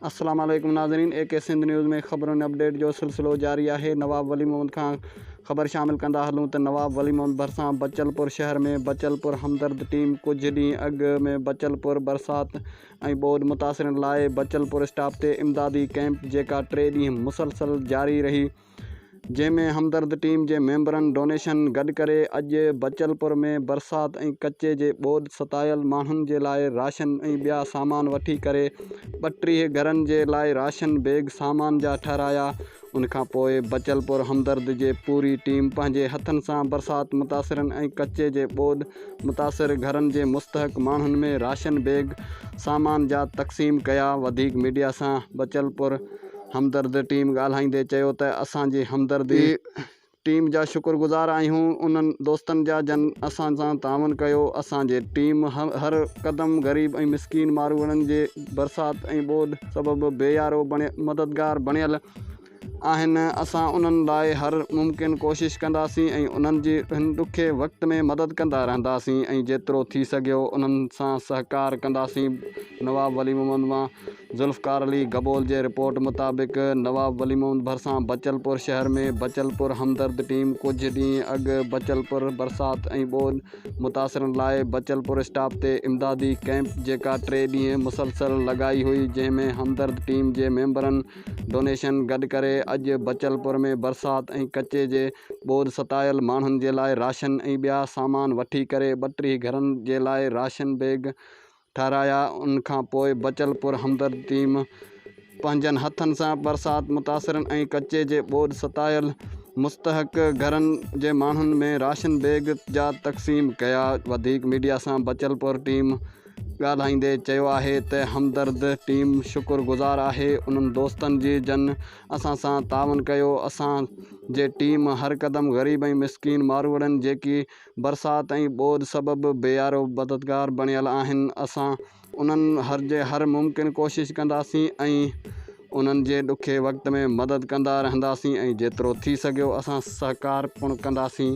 السلام عليڪم ناظرين اي ڪي سنڌ نيوز ۾ خبرن ۽ اپڊيٽ جو سلسلو جاري آهي نواب ولي محمد کان خبر شامل ڪندا هلون ته نواب ولي محمد ڀرسان بچل پور شهر ۾ بچل پور همدرد ٽيم ڪجهه ڏينهن اڳ ۾ بچل پور برسات ۽ ٻوڏ متاثرن لاء بچل پور اسٽاپ تي امدادي ڪئمپ جيڪا ٽي ڏينهن مسلسل جاري رهي جنهن ۾ همدرد ٽيم جي ميمبرن ڊونيشن گڏ ڪري اڄ بچلپور ۾ برسات ۽ ڪچي جي ٻوڏ ستايل ماڻهن جي لاء راشن ۽ ٻيا سامان وٺي ڪري ٻٽيهه گهرن جي لاء راشن بيگ سامان جا ٺهرايا ان کان پوء بچلپور همدرد جي پوري ٽيم پنهنجي هٿن سان برسات متاثرن ۽ ڪچي جي ٻوڏ متاثر گهرن جي مستحق ماڻهن ۾ راشن بيگ سامان جا تقسيم ڪيا وڌيڪ ميڊيا سان بچلپور. همدرد ٽيم ڳالهائيندي چيو ته اسان جي همدرد اي ٽيم جا شڪر گذار آهيون انهن دوستن جا جن اسان سان تعاون ڪيو اسان جي ٽيم هر قدم غريب ۽ مسڪين ماروئڙن جي برسات ۽ ٻوڏ سبب بي يارو مددگار بڻيل آهن اسان انهن لاء هر ممڪن ڪوشش ڪنداسين ۽ انهن جي هن ڏکي وقت ۾ مدد ڪندا رهنداسين ۽ جيترو ٿي سگهيو انهن سان سهڪار ڪنداسين نواب ولي محمد مان ذوالفقار علي گبول جي رپورٽ مطابق نواب ولي محمد ڀرسان بچل پور شهر ۾ بچل پور همدرد ٽيم ڪجهه ڏينهن اڳ بچل پور برسات ۽ ٻوڏ متاثرن لاء بچل پور اسٽاپ تي امدادي ڪئمپ جيڪا ٽي ڏينهن مسلسل لڳائي هئي جنهن ۾ همدرد ٽيم جي ميمبرن ڊونيشن گڏ ڪري اڄ بچل پور ۾ برسات ۽ ڪچي جي ٻوڏ ستايل ماڻهن جي لاء راشن ۽ ٻيا سامان وٺي ڪري ٻه ٽي گهرن جي لاء راشن بيگ ٺهرايا ان کان پوء بچل پر همدرد ٽيم پنهنجن هٿن سان برسات متاثرن ۽ ڪچي جي ٻوڏ ستايل مستحق گهرن جي ماڻهن ۾ راشن بيگ جا تقسيم ڪيا وڌيڪ ميڊيا سان بچل پر ٽيم ڳالهائيندي چيو آهي ته همدرد ٽيم شڪر گذار آهي انهن دوستن جي جن اسان سان تعاون ڪيو اسان جي ٽيم هر قدم غريب ۽ مسڪين ماروئڙن جيڪي برسات ۽ ٻوڏ سبب بيارو مددگار بڻيل آهن، اسان انهن هر جي هر ممڪن ڪوشش ڪنداسين ۽ انهن جي ڏکي وقت ۾ مدد ڪندا رهنداسين ۽ جيترو ٿي سگهيو اسان سهڪار پڻ ڪنداسين.